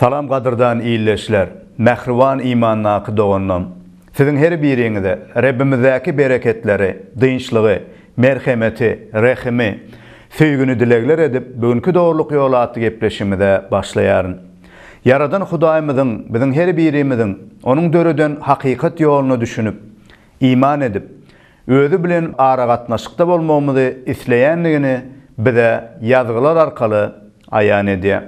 Salam gadyrdan ildeşler, mähriban imandaky doganlarym! Siziň her biriňize Rebbimizdäki bereketleri, dynçlygy, Merhemeti, rehimi, söýgini dilegler edip bu günki Dogrulyk ýoly atly gepleşigimize başlaýaryn. Ýaradan Hudaýymyzyň biziň her birimiziň Onuň döreden hakykat ýoluna düşünip, iman edip, Özi bilen aragatnaşykda bolmagymyzy isleýändigini bize Ýazgylar arkaly aýan edýär.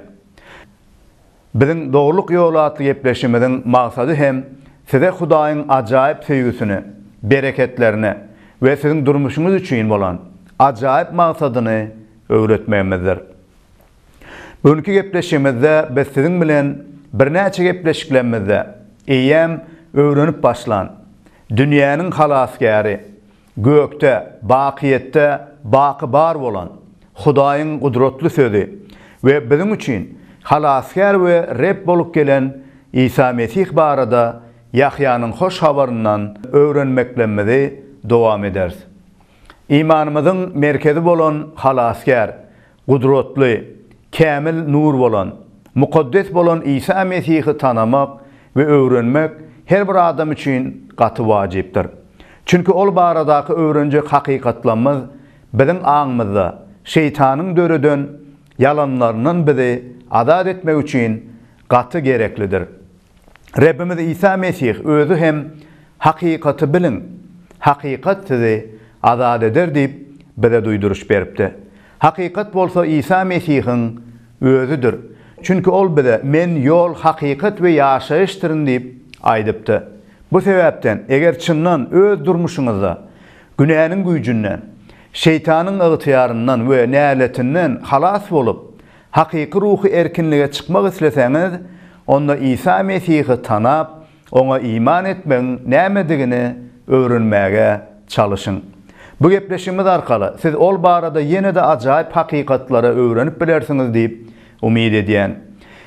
Biziň Dogrulyk ýoly atly gepleşigimiziň maksady hem size Hudaýyň ajaýyp söýgüsini, bereketlerini we siziň durmuşyňyz üçin bolan ajaýyp maksadyny öwretmegimizdir. Bu günki gepleşigimizde biz siziň bilen birnäçe gepleşiklerimizde eýýäm öwrenip başlan Dünýäniň Halasgäri, Gökde, bakyýetde baky bar bolan Hudaýyň gudratly sözi we biziň üçin Halasgär we Reb bolup gelen Isa Mesih barada Ýahýanyň Hoş Habaryndan öwrenmeklemmizi dowam ederis. Imanymyzyň merkezi bolan Halasgär Gudratly, kämil nur bolan, mukaddes bolan Isa Mesihi tanamak we öwrenmek her bir adam üçin gaty wajypdyr. Çünki Ol baradaky öwrenjek hakykatlamyz biziň aňymyzda Şeýtanyň döreden ýalanlaryndan bizi azat etmek üçin gaty gereklidir. Rebbimiz Isa Mesih Özi hem Hakykaty biliň, hakykat sizi azat eder diýip bize duýduryş beripdi. Hakykat bolsa Isa Mesihiň Özidir. Çünki Ol bize Men ýol, hakykat we ýaşaýyşdyryn diýip aýdypdy. Bu sebäpden, eger çyndan öz durmuşyňyzda günäniň güýjünden, şeýtanyň ygtyýaryndan we näletinden halas bolup, Hakyky ruhy erkinlige çykmak isleseňiz, onda Isa Mesihi tanap, oňa iman etmegiň nämedigini öwrenmäge çalyşyň. Bu gepleşigimiz arkaly siz ol barada ýene-de ajaýyp hakykatlary öwrenip bilersiňiz diýip umyt edýän.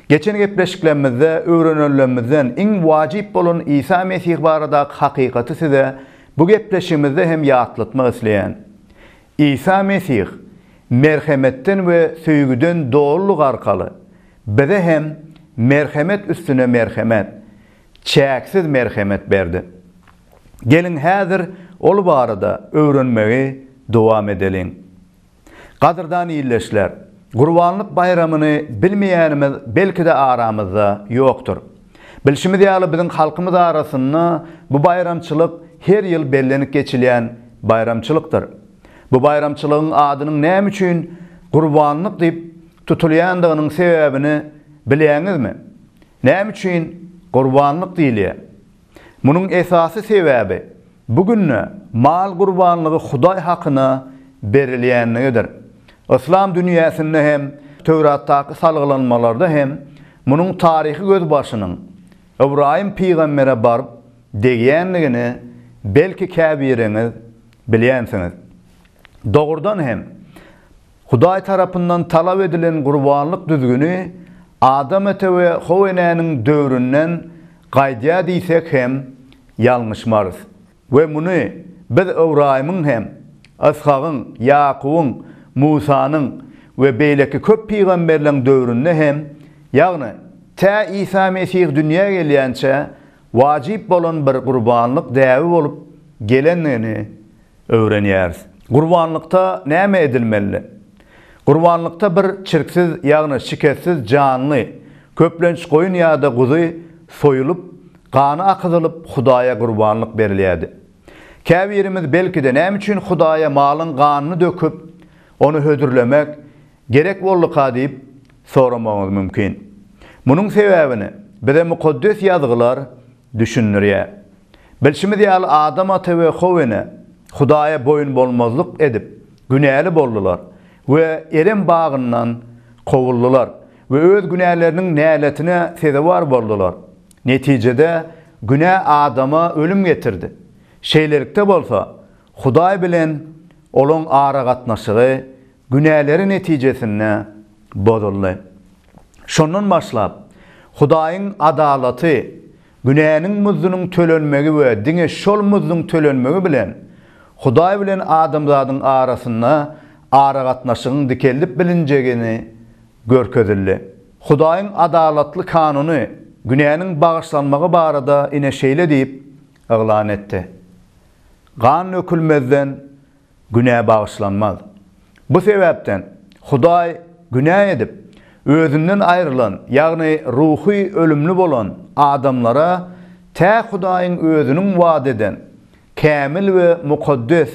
Geçen gepleşiklerimizde öwrenenlerimizden iň wajyp bolan Isa Mesih baradaky hakykaty size bu gepleşigimizde hem ýatlatmak isleýän. Isa Mesih merhemetden we söýgüden dolulyk arkaly bize hem merhemet üstüne merhemet, çäksiz merhemet berdi. Geliň häzir ol barada öwrenmegi dowam edeliň. Gadyrdan ildeşler, Gurbanlyk baýramyny bilmeýänimiz belki-de aramyzda ýokdur. Bilşimiz ýaly, biziň halkymyz arasynda bu baýramçylyk her ýyl bellenip geçilýän baýramçylykdyr. Bu baýramçylygyň adynyň näme üçin Gurbanlyk diýip tutulýandygynyň sebäbini bilýäňizmi? Näme üçin Gurbanlyk diýilýär? Munuň esasy sebäbi, bu günde mal gurbanlygy Hudaý hakyna berilýänligidir. Yslam dünýäsinde hem, Töwratdaky salgylanmalarda hem munuň taryhy gözbaşynyň Ybraýym pygambere baryp degýändigini belki käbiriňiz bilýänsiňiz. Dogrudan hem, Hudaý tarapyndan talap edilen gurbanlyk düzgüni Adam ata we How enäniň döwründen gaýdýar diýsek hem ýalňyşmarys. We muny Biz Ybraýymyň hem, Yshagyň, Ýakubyň, Musanyň we beýleki köp pygamberleň döwründe hem, ýagny tä Isa Mesih dünýä gelýänçä wajyp bolan bir gurbanlyk däbi bolup gelendigini öwrenýäris. Gurbanlykda näme edilmelidi? Gurbanlykda bir çirksiz, ýagny şikessiz janly, köplenç goýun ýa-da guzy, soýulyp, gany akyzylyp, Hudaýa gurbanlyk berilýärdi. Käbirimiz, belki-de, näme üçin Hudaýa malyň ganyny döküp, ony hödürlemek gerek bolduka diýip soramagyňyz mümkin. Munuň sebäbini bize Mukaddes Ýazgylar düşündirýär. Bilşimiz ýaly, Adam ata we how ene Hudaýa boýun bolmazlyk edip, Günäli boldular we Erem bagyndan kowuldylar we öz günäleriniň näletine sezewar boldular. Netijede, günä adama ölüm getirdi. Şeýlelikde bolsa, Hudaý bilen olaň aragatnaşygy günäleri netijesinde bozuldy. Şondan başlap, Hudaýyň adalaty Günäniň muzdunyň tölenmegi we diňe şol muzduň tölenmegi bilen Hudaý bilen adamzadyň arasynda aragatnaşygyň dikeldip bilinjegini görkezildi. Hudaýyň adalatly kanuny günäniň bagyşlanmagy barada ine şeýle diýip yglan etdi, Gan dökülmezden Günä bagyşlanmaz. Bu sebäpden Hudaý günä edip, özünden aýrylan, ýagny ruhy ölümli bolan adamlara tä Hudaýyň özüniň wada eden kämil we mukaddes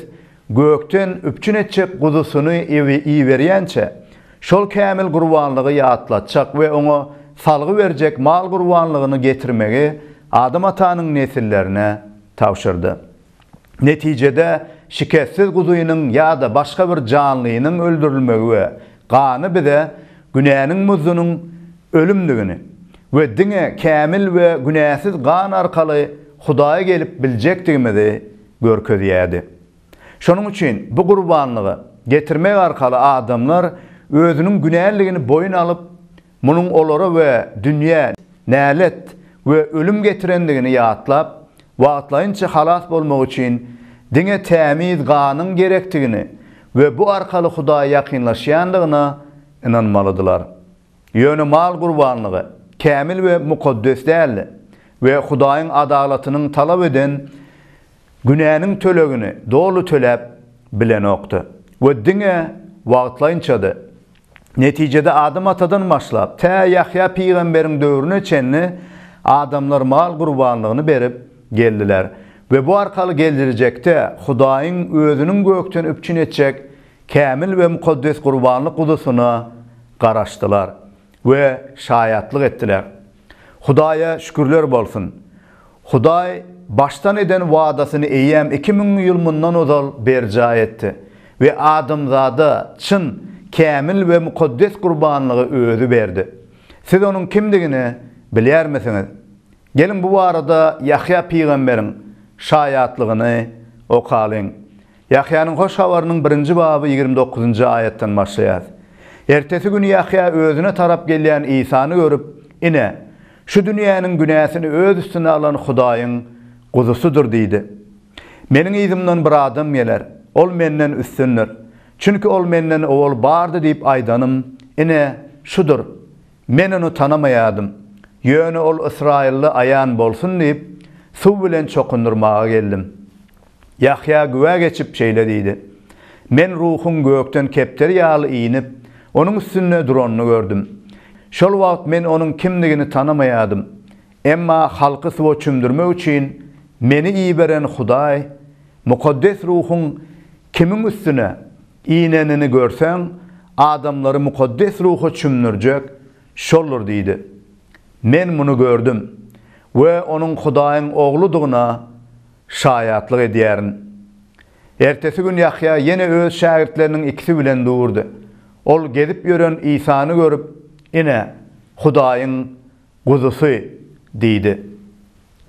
gökden üpjün etjek guzusyny iberýänçä, şol kämil gurbanlygy ýatlatjak we oňa salgy berjek mal gurbanlygyny getirmegi Adam atanyň nesillerine tabşyrdy. Netijede, şikessiz guzynyň ýa-da başga bir janlynyň öldürilmegi we gany bize günäniň muzdunyň ölümdigini we diňe kämil we günäsiz gan arkaly Hudaýa gelip biljekdigimizi görkezýärdi. Şonuň üçin bu gurbanlygy getirmek arkaly adamlar özüniň günäliligini boýun alyp, Munuň olara we dünýä nälet we ölüm getirendigini ýatlap, wagtlaýynça halas bolmak üçin diňe tämiz ganyň gerekdigini we bu arkaly Hudaýa ýakynlaşýandygyna ynanmalydylar. Ýöne mal gurbanlygy kämil we mukaddes däldi we Hudaýyň adalatynyň talap eden günäniň tölegini doly töläp bilenokdy we diňe wagtlaýynçady. Netijede Adam atadan başlap, tä Ýahýa pygamberiň döwrüne çenli adamlar mal gurbanlygyny berip geldiler we bu arkaly geljrjekde Hudaýyň Özüniň gökden üpjün etjek kämil we mukaddes gurbanlyk guzusyna garaşdylar we şaýatlyk etdiler. Hudaýa şükürler bolsun! Hudaý başdan eden wadasyny eýýäm iki müň ýyl mundan ozal berjaý etdi we adamzada çyn, kämil we mukaddes gurbanlygy Özi berdi. Siz Onuň kimdigini bilýärmisiňiz? Geliň, bu barada Ýahýa pygamberiň şaýatlygyny okalyň. Ýahýanyň Hoş Habarynyň birinji baby ýigrimi dokuzynjy aýatdan başlaýar. Ertesi gün Ýahýa özüne tarap gelýän Isany görüp, Ine, şu dünýäniň günäsini öz üstüne alan Hudaýyň Guzusydyr diýdi. Meniň yzymdan bir adam geler, ol menden üstündir, çünki ol menden owal bardy diýip aýdanym, ine, şudur. Men ony tanamaýardym, ýöne ol ysraýylly aýan bolsun diýip, suw bilen çokundyrmaga geldim. Ýahýa güwä geçip şeýle diýdi, Men Ruhuň gökden kepderi ýaly inip, onuň üstünde duranyny gördüm. Şol wagt men onuň kimdigini tanamaýardym. Emma halky suwa çümdürmek üçin meni iberen Hudaý, Mukaddes Ruhuň kimiň üstüne inenini görseň, adamlary Mukaddes Ruha çümdürjek Şoldur diýdi. Men muny gördüm we onuň Hudaýyň Ogludygyna Şaýatlyk edýärin. Ertesi gün Ýahýa ýene öz şägirtleriniň ikisi bilen durdy. Ol gezip ýören Isany görüp, Ine, Hudaýyň Guzusy! diýdi.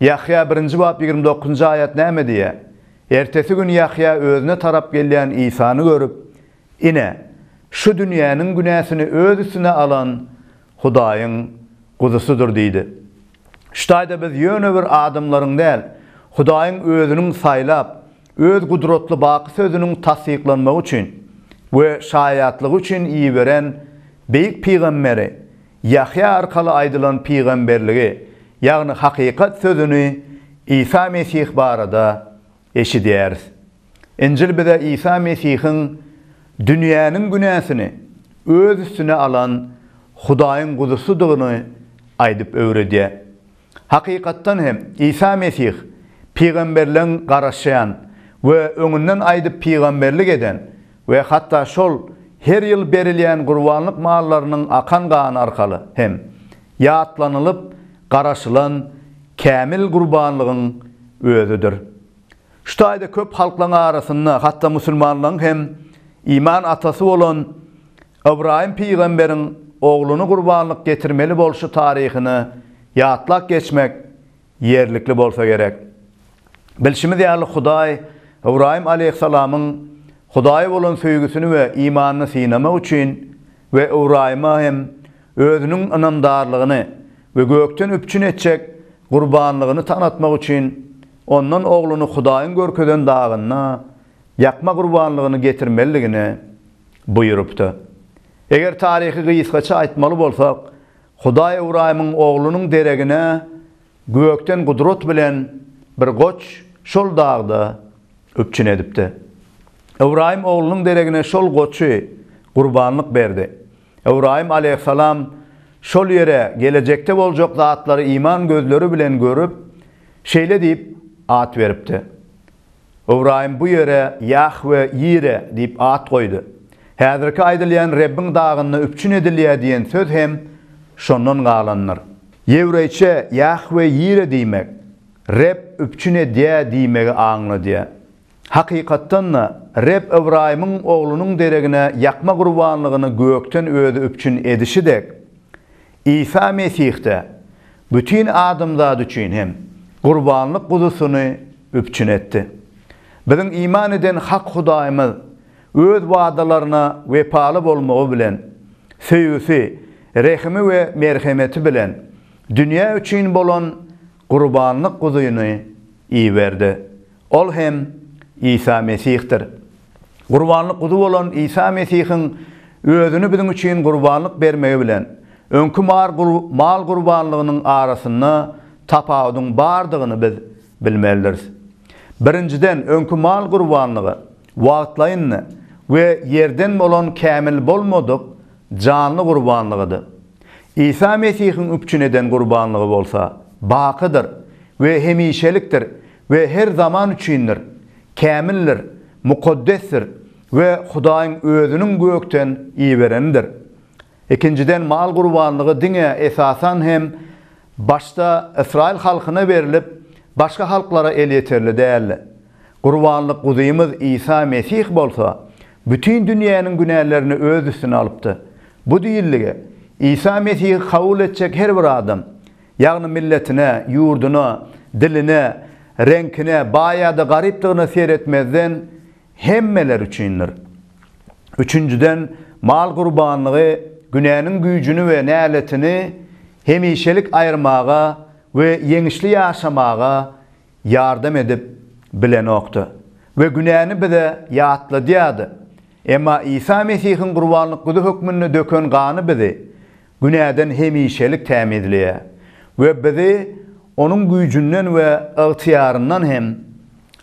Ýahýa birinji bap ýigrimi dokuzynjy aýat näme diýýär? Ertesi gün Ýahýa özüne tarap gelýän Isany görüp, Ine, şu dünýäniň günäsini öz üstüne alan Hudaýyň Guzusydyr diýdi. Şu taýda biz ýöne bir adamlaryň däl, Hudaýyň Özüniň saýlap, Öz gudratly baky Sözüniň tassyklanmagy üçin we şaýatlygy üçin iberen beýik pygamberi Ýahýa arkaly aýdylan pygamberligi, ýagny hakykat Sözüni, Isa Mesih barada eşidýäris. Injil bize Isa Mesihiň dünýäniň günäsini öz üstüne alan Hudaýyň Guzusydygyny aýdyp öwredýär. Hakykatdan hem, Isa Mesih pygamberleň garaşýan we öňünden aýdyp pygamberlik eden we hatda şol her ýyl berilýän gurbanlyk mallarynyň akan gany arkaly hem ýatlanylyp garaşylan kämil gurbanlygyň özüdir. Şu taýda köp halklaryň arasynda, hatda musulmanlaryň hem iman atasy bolan Ybraýym pygamberiň ogluny gurbanlyk getirmeli bolşy taryhyny ýatlap geçmek Ýerlikli bolsa gerek. Bilşimiz ýaly, Hudaý Ybraýym aleýhissalamyň Hudaýa bolan söýgüsini we imanyny synamak üçin we Ybraýyma hem Özüniň ynamdarlygyny we gökden üpjün etjek gurbanlygyny tanatmak üçin Ondan ogluny Hudaýyň görkezen dagynda ýakma gurbanlygyny getirmelidigini buýrupdy. Eger taryhy gysgaça aýtmaly bolsak, Hudaý Ybraýymyň oglunyň deregine gökden gudrat bilen bir goç şol dagda üpjün edipdi. Ybraýym oglunyň deregine şol goçy gurbanlyk berdi. Ybraýym aleýhissalam şol ýere gelejekde boljak zatlary iman gözleri bilen görüp, şeýle diýip at beripdi. Ybraýym bu ýere Ýahwe-Ýire diýip at goýdy. Häzirki aýdylýan Rebbiň dagynda üpjün edilýär diýen söz hem şondan galandyr. Ýewreýçe Ýahwe-Ýire diýmek, Reb üpjün edýär diýmegi aňladýar. Hakykatdan-da, Reb Ybraýymyň oglunyň deregine ýakma gurbanlygyny gökden Özi üpjün edişi dek, Isa Mesih-de bütin adamzat üçin hem gurbanlyk guzusyny üpjün etdi. Biziň iman eden hak Hudaýymyz Öz wadalaryna wepaly bolmagy bilen, söýgüsi, rehimi we merhemeti bilen dünýä üçin bolan gurbanlyk guzyny iberdi. Ol hem Isa Mesihdir. Gurbanlyk guzy bolan Isa Mesihiň özüni biziň üçin gurbanlyk bermegi bilen öňki mal gurbanlygynyň arasynda tapawudyň bardygyny biz bilmelidiris. Birinjiden, öňki mal gurbanlygy wagtlaýyndy we ýerden bolan kämil bolmadyk janly gurbanlygydy. Isa Mesihiň üpjün eden gurbanlygy bolsa bakydyr we hemişelikdir we her zaman üçindir, kämildir, mukaddesdir we Hudaýyň Özüniň gökden iberenidir. Ikinjiden, mal gurbanlygy diňe, esasan hem, başda ysraýyl halkyna berlip, başga halklara elýeterli däldi. Gurbanlyk Guzymyz Isa Mesih bolsa, bütin dünýäniň günälerini öz üstüne alypdy. Bu diýildi, Isa Mesihi kabul etjek her bir adam, Ýagny milletine, ýurduna, diline, reňkine, baý ýa-da garypdygyna seretmezden hemmeler üçindir. Üçünjiden, mal gurbanlygy günäniň güýjüni we näletini hemişelik aýyrmaga we ýeňişli ýaşamaga ýardam edip bilenokdy we günäni bize ýatladýardy. Emma Isa Mesihiň gurbanlyk guzy hökmünde döken gany bizi günäden hemişelik tämizleýär we bizi Onuň güýjünden we ygtyýaryndan hem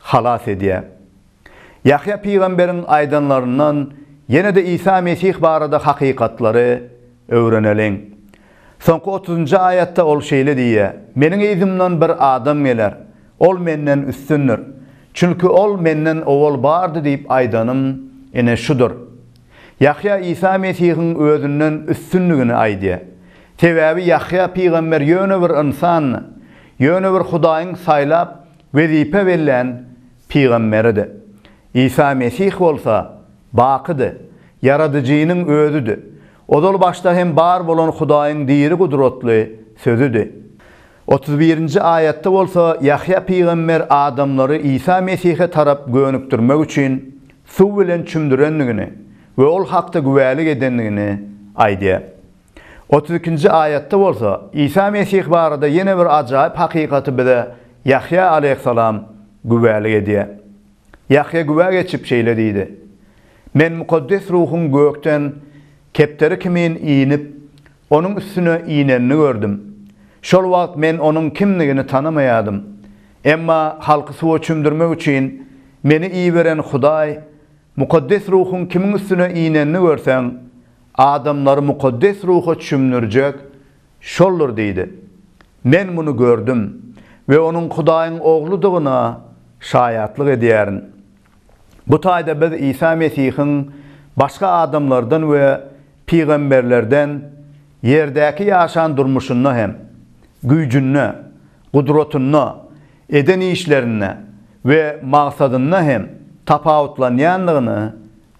halas edýär. Ýahýa pygamberiň aýdanlaryndan ýene-de Isa Mesih barada hakykatlary öwreneliň. Soňky otuzynjy aýatda ol şeýle diýýär, Meniň yzymdan bir adam geler, ol menden üstündir, çünki ol menden owal bardy diýip aýdanym ine şudur. Ýahýa Isa Mesihiň özünden üstünligini aýdýar. Sebäbi Ýahýa pygamber ýöne bir ynsandy, ýöne bir Hudaýyň saýlap, wezipe bellän pygamberidi. Isa Mesih bolsa bakydy, Ýaradyjynyň Özüdi. Ozal başda hem bar bolan Hudaýyň diri gudratly Sözüdi. Otuz birinji aýatda bolsa Ýahýa pygamber adamlary Isa Mesihe tarap gönükdirmek üçin suw bilen çümdürendigini we ol hakda güwälik edendigini aýdýar. Otuz ikinji aýatda bolsa Isa Mesih barada ýene bir ajaýyp hakykaty bize Ýahýa aleýhissalam güwälik edýär. Ýahýa güwä geçip şeýle diýdi, Men Mukaddes Ruhuň gökden kepderi kimin inip, Onuň üstüne inenini gördüm. Şol wagt men onuň kimdigini tanamaýadym. Emma halky suwa çümdürmek üçin meni iberen Hudaý, Mukaddes Ruhuň kimiň üstüne inenini görseň, adamlary Mukaddes Ruha çümdürjek Şoldur diýdi. Men muny gördüm we onuň Hudaýyň Ogludygyna şaýatlyk edýärin. Bu taýda biz Isa Mesihiň başga adamlardan we pygamberlerden ýerdäki ýaşan durmuşynda hem, güýjünde, gudratynda, eden işlerinde we maksadynda hem tapawutlanýandygyny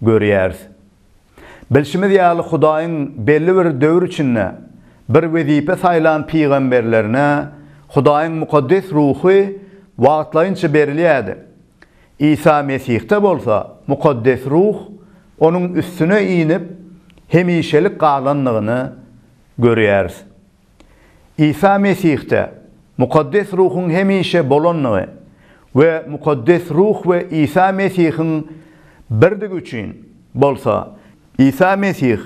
görýäris. Bilşimiz ýaly, Hudaýyň belli bir döwür içinde bir wezipä saýlan pygamberlerine Hudaýyň mukaddes ruhy wagtlaýynça berilýärdi. Isa Mesihde bolsa Mukaddes Ruh onuň üstüne inip, hemişelik galandygyny görýäris. Isa Mesihde Mukaddes Ruhuň hemişe bolandygy we Mukaddes Ruh we Isa Mesihiň birdigi üçin bolsa, Isa Mesih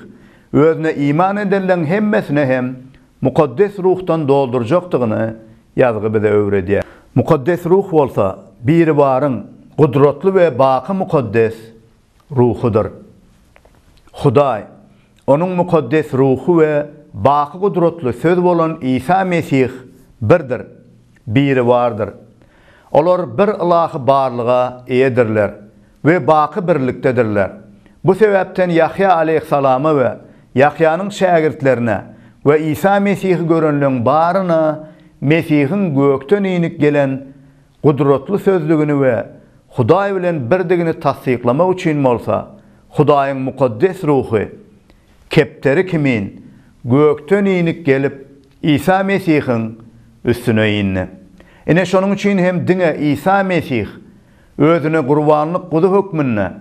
Özüne iman edenleriň hemmesine hem Mukaddes Ruhdan doldurjakdygyny Ýazgy bize öwredýär. Mukaddes Ruh bolsa Biribaryň gudratly we baky mukaddes Ruhudyr. Hudaý, Onuň mukaddes Ruhy we baky gudratly Söz bolan Isa Mesih birdir, Biribardyr. Olar bir ylahy barlyga eýedirler. we baky birlikdedirler. Bu sebäpden Ýahýa aleýhissalama we Ýahýanyň şägirtlerine we Isa Mesihi görenleň baryna Mesihiň gökden inip gelen gudratly sözdigini we Hudaý bilen birdigini tassyklamak üçin bolsa Hudaýyň Mukaddes Ruhy kepderi kimin gökden inip gelip Isa Mesihiň üstüne indi. Ine şonuň üçin hem diňe Isa Mesih Özüne gurbanlyk guzy hökmünde,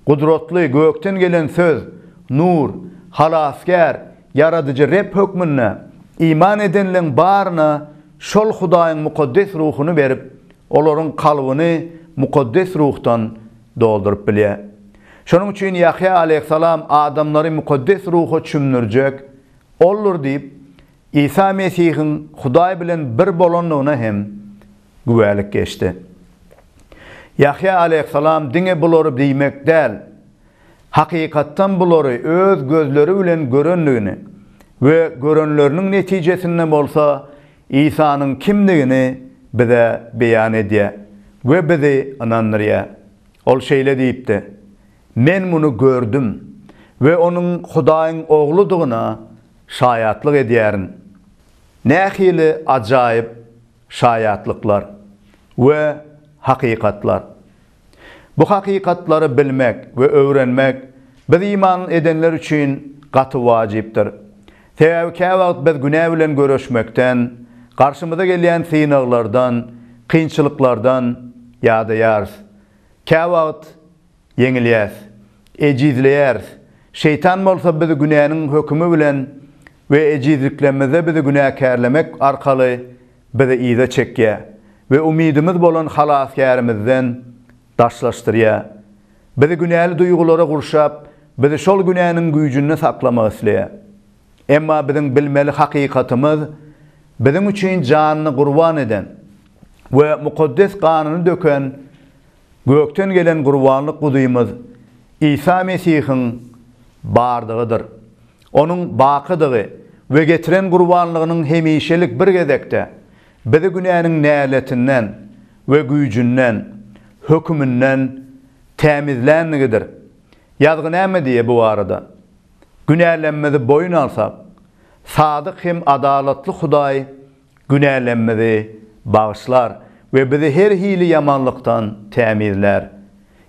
Gudratly, gökden gelen Söz, Nur, Halasgär, Ýaradyjy Reb hökmünde iman edenleň baryna şol Hudaýyň Mukaddes Ruhuny berip, olaryň kalbyny Mukaddes Ruhdan dolduryp bilýär. Şonuň üçin Ýahýa aleýhissalam adamlary Mukaddes Ruha çümdürjek Oldur diýip, Isa Mesihiň Hudaý bilen bir bolandygyna hem güwälik geçdi. Ýahýa aleýhissalam diňe bulary diýmek däl, hakykatdan bulary öz gözleri bilen görendigini we görenleriniň netijesinde bolsa Isanyň kimdigini bize beýan edýär we bizi ynandyrýar. Ol şeýle diýipdi, Men muny gördüm we onuň Hudaýyň Ogludygyna şaýatlyk edýärin. Nähili ajaýyp şaýatlyklar we hakykatlar! Bu hakykatlary bilmek we öwrenmek biz iman edenler üçin gaty wajypdyr. Sebäbi käwagt biz günä bilen göreşmekden, garşymyza gelýän synaglardan, kynçylyklardan ýadaýarys. Käwagt ýeňilýäris, ejizleýäris. Şeýtan bolsa bizi günäniň hökümi bilen we ejizliklerimizde bizi günäkärlemek arkaly bizi yza çekýär we umydymyz bolan Halasgärimizden daşlaşdyrýar. Bizi günäli duýgulara gurşap, bizi şol günäniň güýjünde saklamak isleýär. Emma biziň bilmeli hakykatymyz, biziň üçin janyny gurban eden we mukaddes ganyny döken, Gökden gelen gurbanlyk Gudymyz Isa Mesihiň bardygydyr. Onuň bakydygy we getiren gurbanlygynyň hemişelik bir gezekde bizi günäniň näletinden we güýjünden, höküminden, tämizlänligidir. Ýazgy näme diýýär bu barada? Günälemmizi boýun alsak, sadyk hem adalatly Hudaý günälerimizi bagyşlar we bizi her hili ýamanlykdan tämizlär.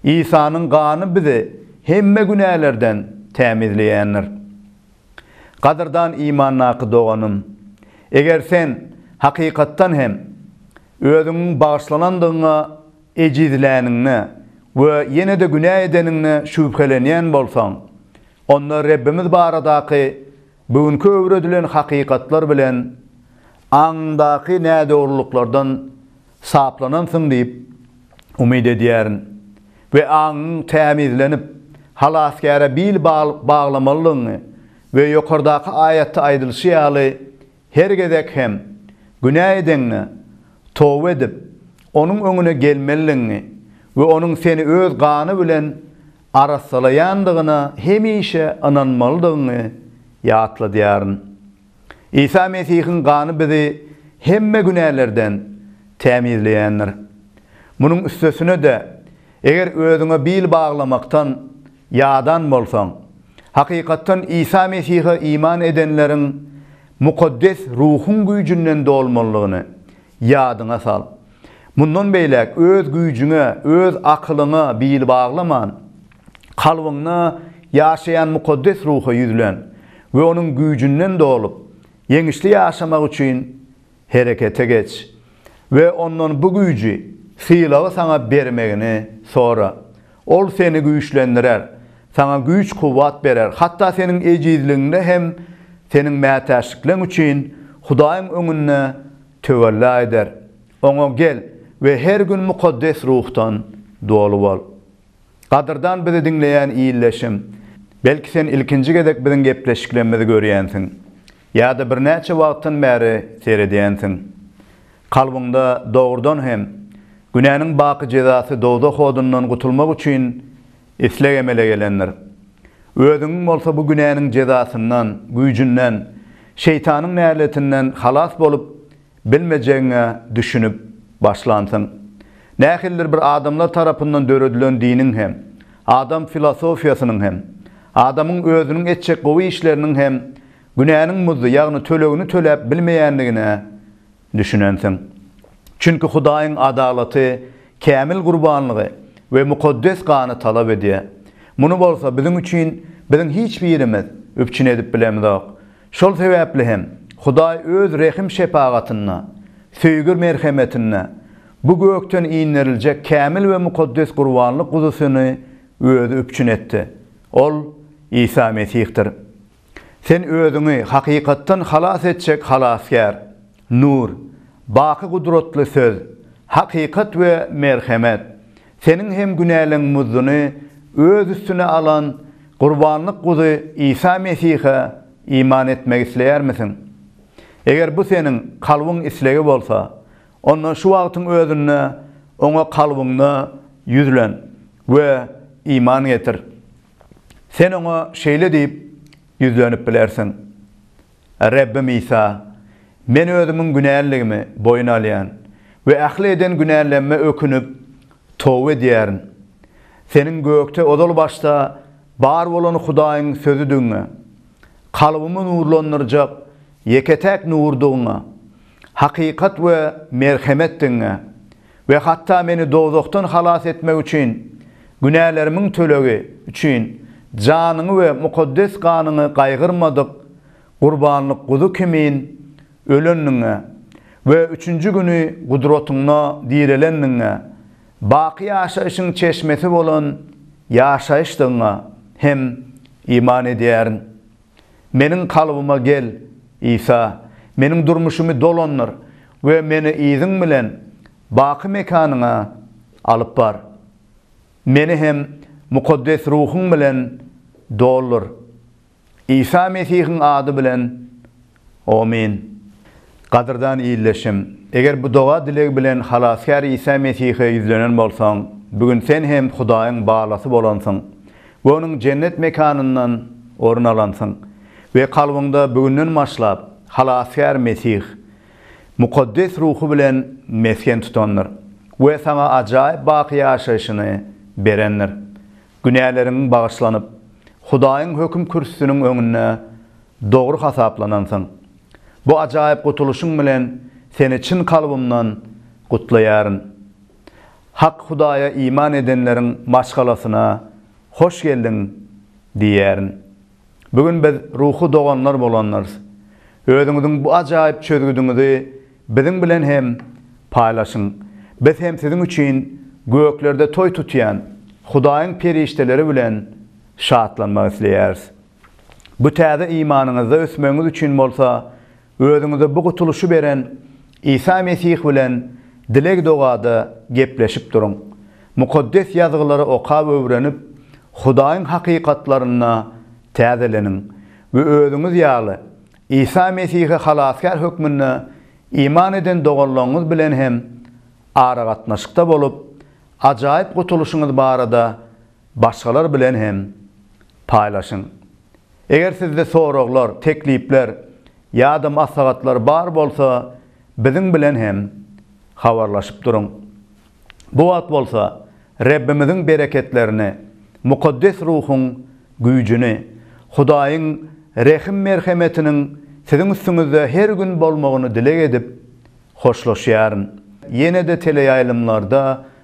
Isanyň gany bizi hemme günälerden tämizleýändir. Gadyrdan imandaky doganym, eger sen hakykatdan hem özüňiň bagyşlanandygyňa ejizläniňde we ýene-de günä edeniňde şübhelenýän bolsaň, onda Rebbimiz baradaky Bu günki öwredilen hakykatlar bilen aňyňdaky nädogrulyklardan saplanansyň diýip umyt edýärin we aňyň tämizlenip, Halasgäre bil baglamalydygyňy we ýokardaky aýatda aýdylyşy ýaly her gezek hem günä edeňňe toba edip, Onuň öňüne gelmelidigiňi we Onuň seni Öz gany bilen arassalaýandygyna hemişe ynanmalydygyňy ýatladýaryn. Isa Mesihiň gany bizi hemme günälerden tämizleýändir. Munuň üstesine-de, eger özüňe bil baglamakdan ýadan bolsaň, hakykatdan Isa Mesihe iman edenleriň mukaddes ruhuň güýjünden dolmalydygyny Ýadyňa sal. Mundan beýläk öz güýjüňe, öz akylyňa bil baglaman, kalbyňda ýaşaýan Mukaddes Ruha ýüzlen we Onuň güýjünden dolup, ýeňişli ýaşamak üçin herekete geç we Ondan bu güýji, sylagy saňa bermegini sora. Ol seni güýçlendirer, saňa güýç-kuwwat berer, hatda seniň ejizligiňde hem seniň mätäçlikleň üçin Hudaýyň öňünde töwella eder. Oňa gel we her gün Mukaddes Ruhdan doly bol. Gadyrdan bizi diňleýän ildeşim, belki sen ilkinji gezek biziň gepleşiklerimizi görýänsiň. Ýa-da birnäçe wagtdan bäri seredýänsiň. Kalbyňda dogrudan hem, günäniň baky jezasy dowzah odundan gutulmak üçin isleg emele gelendir. Özüňiň bolsa bu günäniň jezasyndan, güýjünden, şeýtanyň näletinden halas bolup, Bilmejegiňe düşünip başlansyň. Nähilidir bir adamlar tarapyndan döredilen diniň hem, adam filosofiýasynyň hem, adamyň özüniň etjek gowy işleriniň hem günäniň muzdy, ýagny tölegini töläp bilmeýändigine düşünensiň. Çünki Hudaýyň adalaty kämil gurbanlygy we mukaddes gany talap edýär. Muny bolsa biziň üçin biziň hiç birimiz üpjün edip bilemizok. Şol sebäpli hem Hudaý Öz rehim-şepagatynda, söýgi-merhemetinde bu gökden inderiljek kämil we mukaddes gurbanlyk guzusyny Özi üpjün etdi. Ol Isa Mesihdir. Sen özüňi hakykatdan halas etjek Halasgär, Nur, baky gudratly söz, hakykat we merhemet. Seniň hem günäleň muzduny Öz üstüne alan Gurbanlyk Guzy Isa Mesihe iman etmek isleýärmisiň? Eger bu seniň kalbyň islegi bolsa, onda şu wagtyň özünde Oňa kalbyňda ýüzlen we iman getir. Sen Oňa şeýle diýip ýüzlenip bilersiň, Rebbim Isa, Men özümiň günäliligimi boýun alýan we ähli eden günälemme ökünip, toba edýärin. Seniň gökde ozal başda bar bolan Hudaýyň Sözüdigiňe, kalbymy nurlandyrjak ýeke-täk nurdugyňa, hakykat we merhemetdigiňe We hatda meni dowzahdan halas etmek üçin, günälerimiň tölegi üçin janyňy we mukaddes ganyňy gaýgyrmadyk gurbanlyk guzy kimin ölendigiňe we üçünji güni gudratyňda direlendigiňe, baky ýaşaýşyň çeşmesi bolan ýaşaýyşdygyňa hem iman edýärin. Meniň kalbyma gel, Isa, meniň durmuşymy dolandyr we meni Yzyň bilen baky mekanyňa alyp bar. Meni hem Mukaddes Ruhuň bilen doldur. Isa Mesihiň ady bilen, omyn. Gadyrdan ildeşim, eger bu doga-dileg bilen Halasgär Isa Mesihe ýüzlenen bolsaň, bu gün sen hem Hudaýyň balasy bolansyň. we onuň jennet mekanyndan orun alansyň we kalbyňda bu günden başlap Halasgär Mesih Mukaddes Ruhy bilen mesgen tutandyr we saňa ajaýyp baky ýaşaýşyny berendir. Günäleriň bagyşlanyp, Hudaýyň höküm kürsüsiniň öňünde dogry hasaplanansyň. Bu ajaýyp gutulyşyň bilen seni çyn kalbymdan gutlaýaryn. Hak Hudaýa iman edenleriň maşgalasyna hoş geldiň diýýärin. Bu gün biz ruhy doganlar bolandyrs. Özüňiziň bu ajaýyp çözgüdiňizi biziň bilen hem paýlaşyň. Biz hem siziň üçin göklerde toý tutýan Hudaýyň perişdeleri bilen şatlanmak isleýäris. Bu täze imanyňyzda ösmegiňiz üçin bolsa Özüňize bu gutulyşy beren Isa Mesih bilen dileg-dogada gepleşip duruň. Mukaddes Ýazgylary okap öwrenip, Hudaýyň hakykatlaryna täzeleniň we özüňiz ýaly Isa Mesihe Halasgär hökmünde iman eden doganlaryňyz bilen hem aragatnaşykda bolup, ajaýyp gutulyşyňyz barada Başgalar bilen hem paýlaşyň. Eger sizde soraglar, teklipler ýa-da maslahatlar bar bolsa, biziň bilen hem habarlaşyp duruň. Bu wagt bolsa Rebbimiziň bereketlerini, mukaddes ruhuň güýjüni, Hudaýyň rehim-merhemetiniň siziň üstüňizde her gün bolmagyny dileg edip, hoşlaşýaryn. Ýene-de teleýaýlymlarda